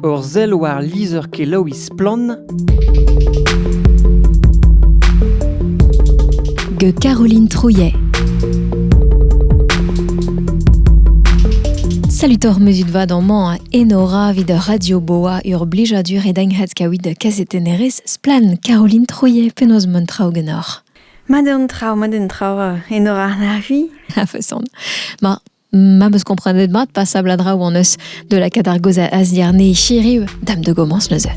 Ur sell war lizher-kelaouiñ Splann! gant Caroline Trouillet. Salut oc'h muzut vad amañ enora vid Radio Boa ur blijadur e denghat kaout da kazetennerez Splan Caroline Trouillet penaos mont traoù genoc'h. Mat un traoù, mat un traoù, enora na c'hui. A feson. Ma, Ma'm eus komprenet mat pasabl a draoù an eus de la cadargoz a azdiarne chiriv dam de gomans neuze.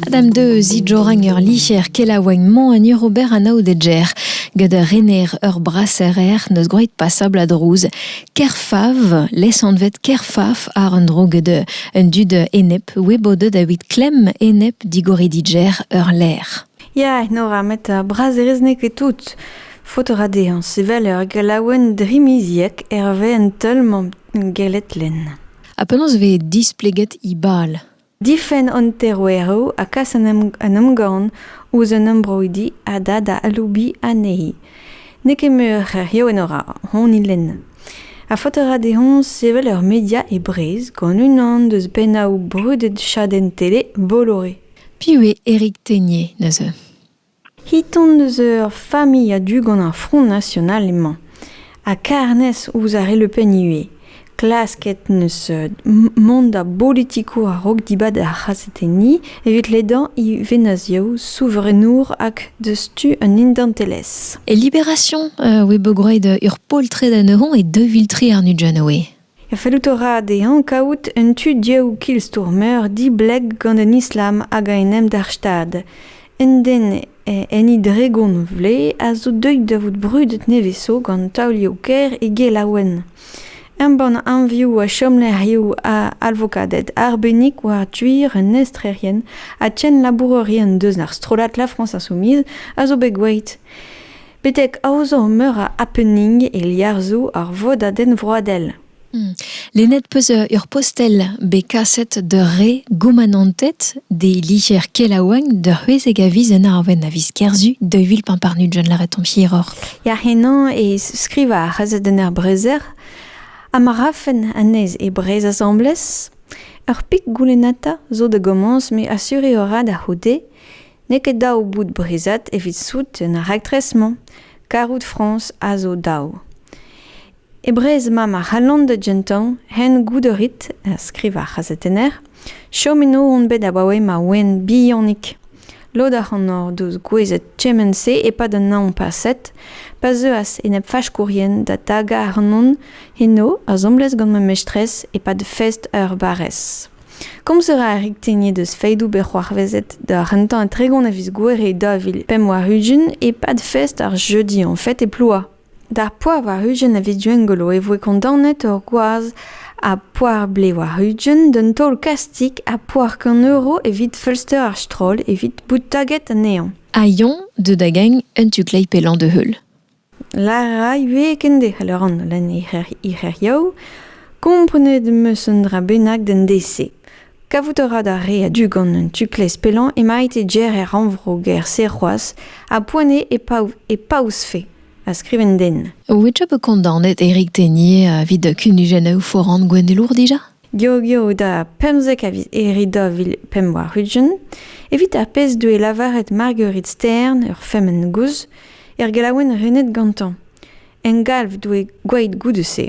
Adam de zidjorang ur licher kelaouagn mañ en Urober anaoudedjer gant ur rener ur braserer neus groeit pasabl a drouz. Kerfav, lesanvet kerfaf ar un dro gant un dud enep weboded a wit klem enep digori didjer ur ler. Ya, Nora, met ar brazerez n'eo ket tout. Faot a ra dezhañ sevel ur gelaouenn drimiziek hervez un teul-mañ gellet lenn. Ha penaos vez displeget he bal? Difenn an teroeroù ha kas an emgann ouzh an embroidi a da da aloubiñ anezhi. N'eo ket muioc'h hiziv, Nora, hon lenn. Ha faot a ra dezhañ sevel ur media e Breizh gant unan deus pennaoù brudet chadenn tele Bolloré. Piv eo Éric Ténier neuze? Hiton eus ur familh a-du gant ar Front National emañ, ha karnez ouzh ar re Le Pen ivez. Klasket neus mont da bolitikour a-raok dibab ar c'hazetenniñ evit ledañ evezhiadoù souvreenour hag deus tu an identelezh. E Libération e voe bogroet ur poltred anezhoñ e deux viltri àr Nujanoe. Fellout a ra dezhañ kavout un tu div kilstour-meur dibleg gant an islam hag a en em dalc'h stad. Un den enni dregont vloaz a zo deuet da vout brudet nevez-zo gant taolioù-kaer e gelaouenn. Embann anvioù ha chomlec'hioù a alvokaded arbennik war tuir un estrerien ha tienn labourerien deus ar strollad La France Insoumise a zo bet gwelet. betek aozañ meur a happening e liarzhoù ar vodadenn vroadel. Lennet 'peus ur postel bet kaset d'ur re goumanantet d'e liger kelaouañ da c'hwezek a viz en Arwenn a viz Kerzu daou vil pamparnut John Laraton hiroc'h. Ya henañ e skrivañ ar c'hazetenn er Brezer ha ma rafen anezhe e Breizh asambles. Ur pik goulennata zo da gomañs me asur eo rat a-c'houde N'eo ket dav bout breizhat evit sout en ar raktres-mañ, karout Frañs a zo dav. E Breizh-Mañ ma c'hallont da gentañ hen goût a rit, skrivañ ar c'hazetenner, chom eno on bet abaoe ma oan bihanik. Lod ac'hanoc'h deus gouezet kement-se e-pad an hañv paset, pa zeuas enep-faskourien da tagañ ac'hanon eno asambles gant ma mestrez e-pad fest ur barrez. Komz a ra ar Riktegniet eus feidoù bet c'hoarvezet d'ar rentañ tregont a viz Gouere 2000 warn-ugent e-pad fest ar jeudi en fête e Plouha. D'ar poar war-ugent a viz Gwengolo e voe kondaonet ur gwaz a poar-blez war-ugent d'un taol kastig ha poar kant euro evit feulster ar stroll evit bout taget anezhañ. Ha Yon deuet da gagn un tu-kleiz pellañ da-heul. Lâr a ra ivez kendec'h a lâran gant he c'her- he c'hêrioù. Komprenet 'm eus un dra bennak d'an deiz-se. Kavout a ra d'ar re a-du gant un tu-klez pellañ emaint é ger er rannvro-gêr-se c'hoazh ha poent eo e pav- e paouezfe a skriv an den. Ouiet 'vo kondaonet Eric Ténier evit kunujennoù foran Gwendelour dija ? Geogeo da pemzek a viz Here daou vil pemp warn-ugent, evit ar pezh deue lavaret Marguerite Stern, ur femen gozh, er gelaouenn renet gantañ. En galv doe gwaet goude-se.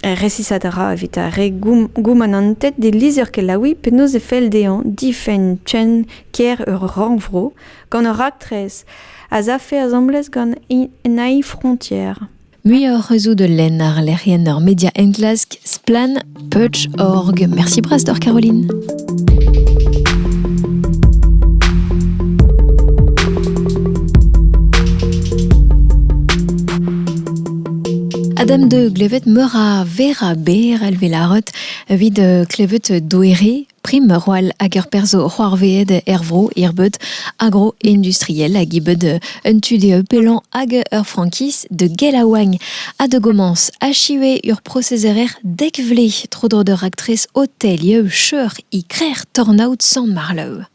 Resisat a ra evit ar re goum- goumanantet d'e lizher-kelaouiñ penaos e fell dezhañ difenn chen kêr ur rannvro gant ur raktres az afe asambles gant Enei Frontières. Muioc'h eus zo da lenn ar lec'hienn ur media enklask Splan Perch.org. Merci bras d'or Caroline. Adam de klevet meur a vera ber elve la rot evit klevet doere Prim roll hag ur perzh c'hoarvezet er vro hirbeud agro-industriel hag ibeud un tu dezhe pellañ hag ur frankiz de gelaouagn ha de gomañs achive ur prosezerer dek vle tro-dro d'ur raktres hotelier cheur e krec'h tornaod Sant-Marlev.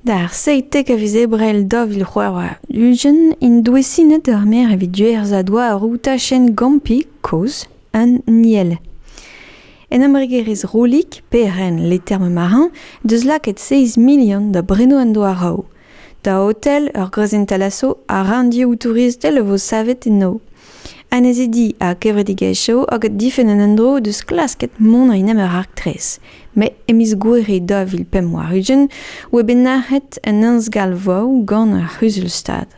D'ar seitek a viz Ebrel daou vil c'hwec'h ugent int douesinet ur maer evit duer zadoa ur tachenn gampi kozh un niel. En embregerezh Rollig, PRN Les Termes Marins, deus lakaet 6 milion da brenoù an doa rav. Da hotel, ur groazentalasv ha ranndioù touristel a vo savet eno. Annezidi ha kevredigezhioù hag difenn an endro deus klasket mont en em ur raktres. Met e miz Gouere 2000 pemp warugent oa bet nac'het un ensgalvoù gant ar C'huzul-Stad.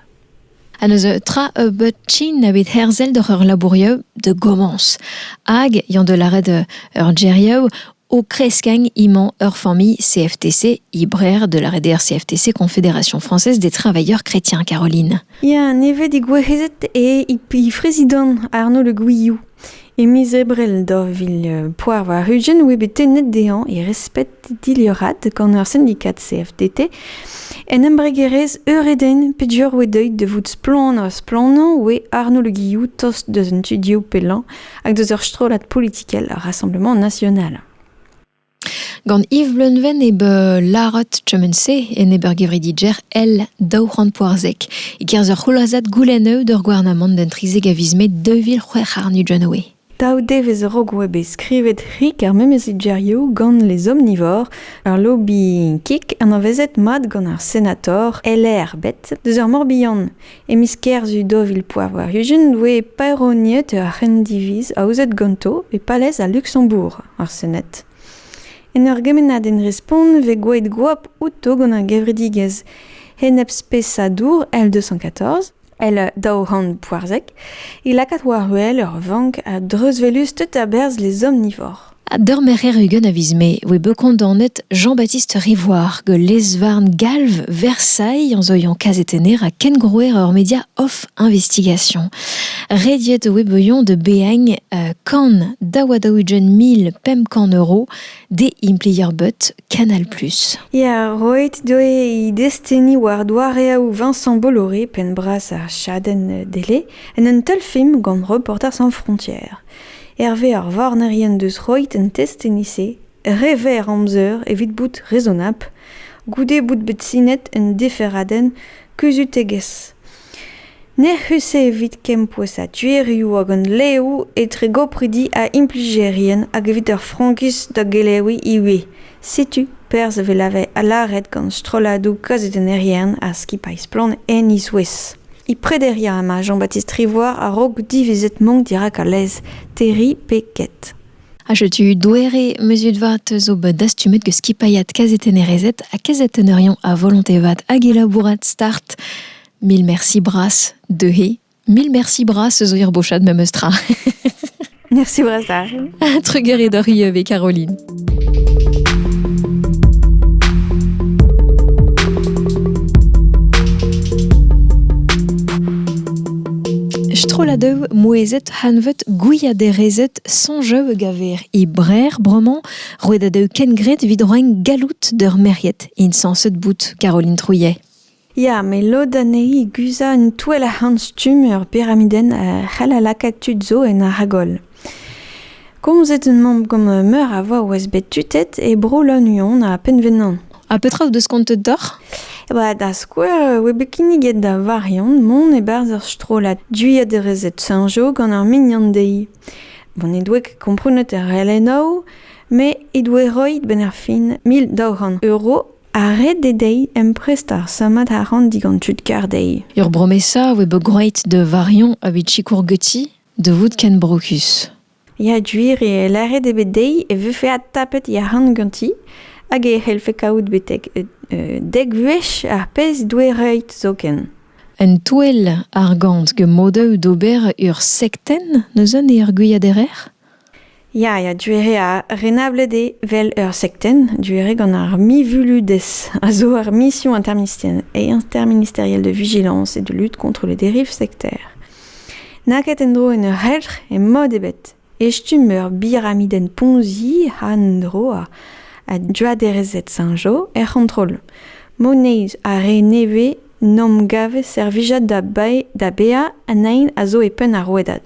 ha n'eus tra nebeut trin ebet herzel doc'h ur labourioù da gomañs hag eo da lâret ur gêrioù o kreskañ emañ ur familh CFTC Ibrer da lâret eo ar CFTC Confédération française des travailleurs chrétiens Caroline. Ya, nevez digouezet eo he prezidant Arnaud Le Gouilloux. E miz Ebrel daou vil poazvar ugent oa bet tennet dezhañ e resped dilhad gant ur sindikad CFDT en embregerezh Eureden peger oa deuet da vout splann ha splannañ oa Arnaud Le Guillou tost deus an tu dioù pellañ hag deus ur strollad politikel ar Rassemblement national. Gant Yves Bleunven eo bet lâret kement-se enep ar gevrediger èl daou c'hant poarzek. E-kerzh ur c'hloazad goulennoù d'ur gouarnamant d'un trizek a viz Mae daou vil c'hwec'h àrnod Janeway. Daou devezh a-raok oa bet skrivet rik ar memes gerioù gant les omnivores, ur lobby-kick anavezet mat gant ar senator LR bet deus ar Morbihan. E miz Kerzu daou vil pevar-ugent e voe paeroniet ur c'hendiviz aozet ganto e palez al Luksembourg, ar Sened. En ur gemennadenn respont e vez gwelet goap outo gant ar gevredigezh Enepspesadour L214, L daou c'hant poarzek, e lakaat war-wel ur vank a dreuzvelusted a-berzh les omnivores. D'ur merc'her ugent a viz Mae e voe bet kondaonet Jean-Baptiste Rivoire gant lez-varn galv Versailles en zoiañ kazetenner ha kengrouer ur media off investigation. Rediet e voe bouillon de beagne euh, kan daouadaougen mil pemp kant euro de implier but Canal+. Ya, roet doe e desteni war doareoù Vincent Bolloré penn-bras ar chadenn dele en un teulfilm gant Reporters sans frontières. Hervez ar varnerien deus roit un test e-se, re verr amzer evit bout rezonabl, goude bout bet sinet un deferadenn kuzhutegezh. N'ec'h eus evit kempouezañ tuerioù hag leoù etre gopridi ha implijerien hag evit ur frankiz da geleviñ ivez. Setu perzh a vez lâret gant strolladoù kazetennerien ha skipailh Splann! en he zouez. E prederiañ emañ Jean-Baptiste Rivoire a-raok divizet mank dirak al lez, terriñ pe ket. Ha setu doere muzut vat zo bet dastumet gant skipailhad kazetennerezed ha kazetenerion a volonté vat hag e labourat start. Mil merci bras, deuhe. Mil merci bras eus ur bochad memes tra. Merci Bresta. Trugarez d'hori avec Caroline. Strolladev mouezet hanvet gwiaderezet sonjev gaver e brer broman roet a deu kengret vid roeñ galout d'ur meriet in sanset bout Caroline Trouillet. Ya, met lod anezhi guzhañ un touell a-c'hant-stumm ur piramidenn c'hall a lakaat tud zo en Aragol. Komzet omp gant meur a vao oas bet tutet e Bro-Lannuon ha Penvenan. Ha petra out deus kontet deoc'h? Ba, da skouer, e oa bet kinniget da Varion mont e-barzh ur strollad Dwiaderezed Saint-Jo gant ar mignon dezhi. Bon, he doa ket komprenet er relennoù, met he doa roet benn ar fin mil daou c'hant euro Ha ret eo dezhi emprestañ ar sammad arc'hant digant tud kar dezhi. Ur bromesa a voe bet gwraet da Varion evit sikour Guti da vout ken brokus. Ya, gwir eo. Lâret eo bet dezhi e vefe adtapet he arc'hant ganti hag e c'hellfe kaout betek dek wech ar pezh he doe roet zoken. Un touell argant get modaoù d'ober ur sektenn neuze ne ergwiaderer? Ya, ya, Duere a renablet eo 'vel ur sektenn, Duere gant ar mivuludezh a zo ur mission interministerielle de vigilance et de lutte contre les dérives sectaires. N'a ket en-dro en ur c'helc'h e mod ebet, e stumm ur biramidenn Ponzi ha en-dro a Droaderezed Saint-Jo er c'hontrol. Moneiz ha re nevez 'n 'om gavet servijat da bae da baeañ an aen a zo e penn ar rouedad.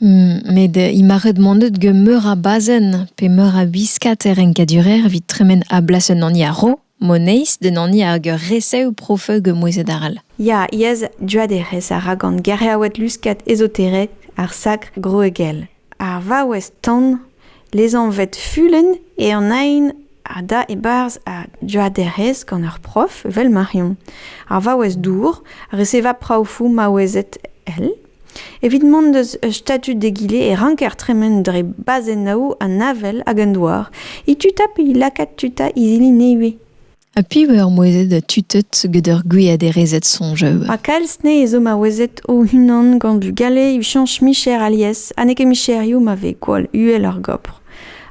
Met imaret m'on deut gant meur a bazenn pe meur a wiskad er renkadurer evit tremen a-blas un hani a-raok, moneiz d'un hani hag ur resev profeu gant mouezhet arall. Ya, yezh douaderez a ra gant geriaoued luskat ezoterek ar sakr groegel. Ar vaouez tan, lezanvet Fulenn, eo an aen a da e-barzh ar douaderez gant ur prof evel Marion. Ar vaouez dour a reseva praofoù maouezed èl. Evit mont eus statud egile e ranker tremen dre bazennoù an avel hag an douar, e-tuta pe e lakaat tuta izili nevez. Ha piv eo ar mouezhed tutet gant ur gwiaderezed soñjoù? Ha kalz ne zo maouezed o-unan gant bugale evit chañch micher alies ha n'eo ket micherioù ma vez gwall uhel ar gopr.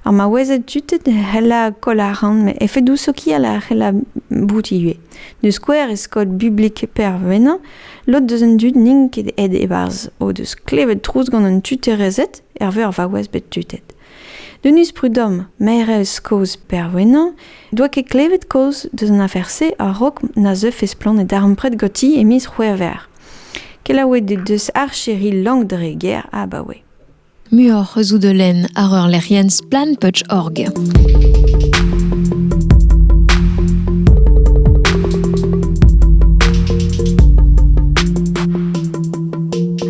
Ar maouezed tutet a c'hella koll arc'hant met efedoù sokial a c'hella bout ivez. D'o skouer e skod bublik Pervenant Lod deus an dud n'int ket aet e-barzh o deus klevet trouz gant an tuterezed hervez ar vaouez bet tutet. Denis Prudhomme, maerez kozh Perwenan, doa ket klevet kaoz deus an afer-se a-raok na zeufe splann e darempred ganti e miz C'hwevrer. Kelaouet he deus archeri Langdre-Ger abaoe. Muioc'h eus out lenn àr ur lec'hienn splanputch.org.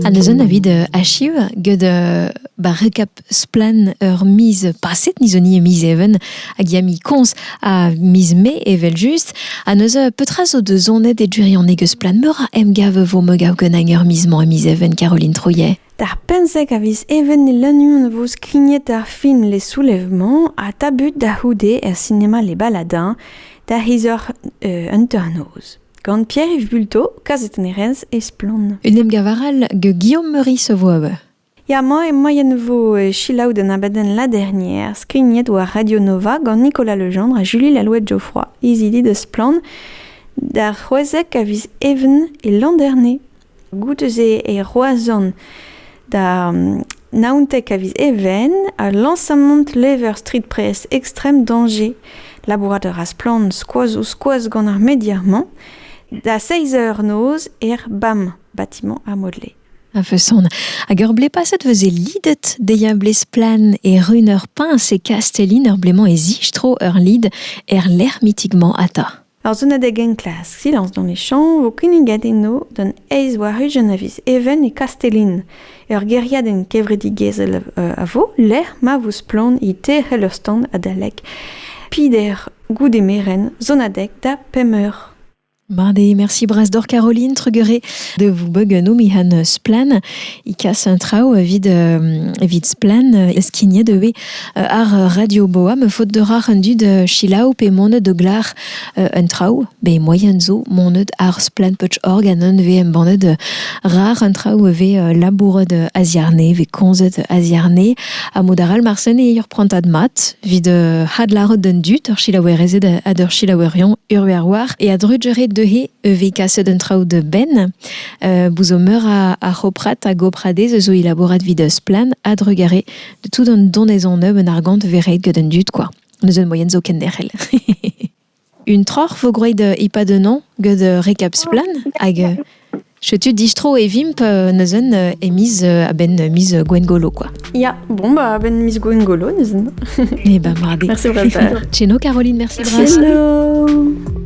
Ha neuze na vid euh, achiv get euh, ba rekap splan ur miz paset nizoni e miz even hag ya mi koñs a miz me evel-just ha neuze petra zo da zonet e durianek eus splan meur a emgav vo megav ken hag ur miz mañ e miz even Caroline Trouillet. D'ar pemzek a viz even e Lannuon e vo skignet ar film Les Soulèvements ha tabut da c'houde er sinema Les Baladins da c'hiz eur euh, hanternoz. Gant Pierre-Yves Bulto, kazetennerez e Splann. Un emgav arall gant Guillaume Meury Savoaoue. Ya, moi, moien vo euh, chilaou d'un abadenn la dernière, skignet war Radio Nova gant Nicolas Legendre ha Julie Lalouette-Geoffroy, izili de Splann, d'ar c'hwezek a viz even e l'an dernier. Goude-se e Roazhon da naontek a viz Even ha lañsamant lever strippress Extrême Danger. Labourat a ra splann skoaz-ouzh-skoaz gant ar media-mañ. Da seizh eur noz er BAM, bâtiment ar Modelé. A-feson. Hag ur blez paset e veze lidet dezhi ur blez splann e run ur piñs e Kastellin ur blez-mañ e zistro ur lid er lec'h mitik-mañ ata. Ar sonadeg enklask Silence dans les champs vo kinniget eno d'an eizh war ugent a viz Even e Kastellin. Ur gêriadenn kevredigezhel a vo lec'h ma vo splann e teir c'helostand adalek pider goude merenn sonadeg da pemp eur. Mardi, merci Bras d'or Caroline Trugueret de vous beugenoum han splan. I casse un traou vide, vide splan, eskigné de Ar radio boa me faot deoc'h an dud silaou pe monet o glar un traoù be moyen zo monet ar Splantputch org an un vez embannet rar an traoù vez labouret a-ziarne vez komzet a-ziarne ha mod arall marsen eo ur prantad mat evit hadlarout d'an dud ur silaouerezed ha d'ur silaouerion urve ar war e a-drujere deuhe vez kaset un traoù da benn bout zo meur a c'hoprat ha gopradez zo e labourat evit Splan a-drugare tout an donezon nebeut argant vez ret gant an dud kwa. Neus un moyen zo ken derc'hel. un troc'h vo gwraet e-pad un an gant rekap splan hag chetu distro e vimp neus un e miz a-benn miz Gwengolo kwa. Ya, bon bah a-benn miz Gwengolo neus un. Eh ben mardi. Merci Brad. Tcheno Caroline, merci Bras. Tcheno.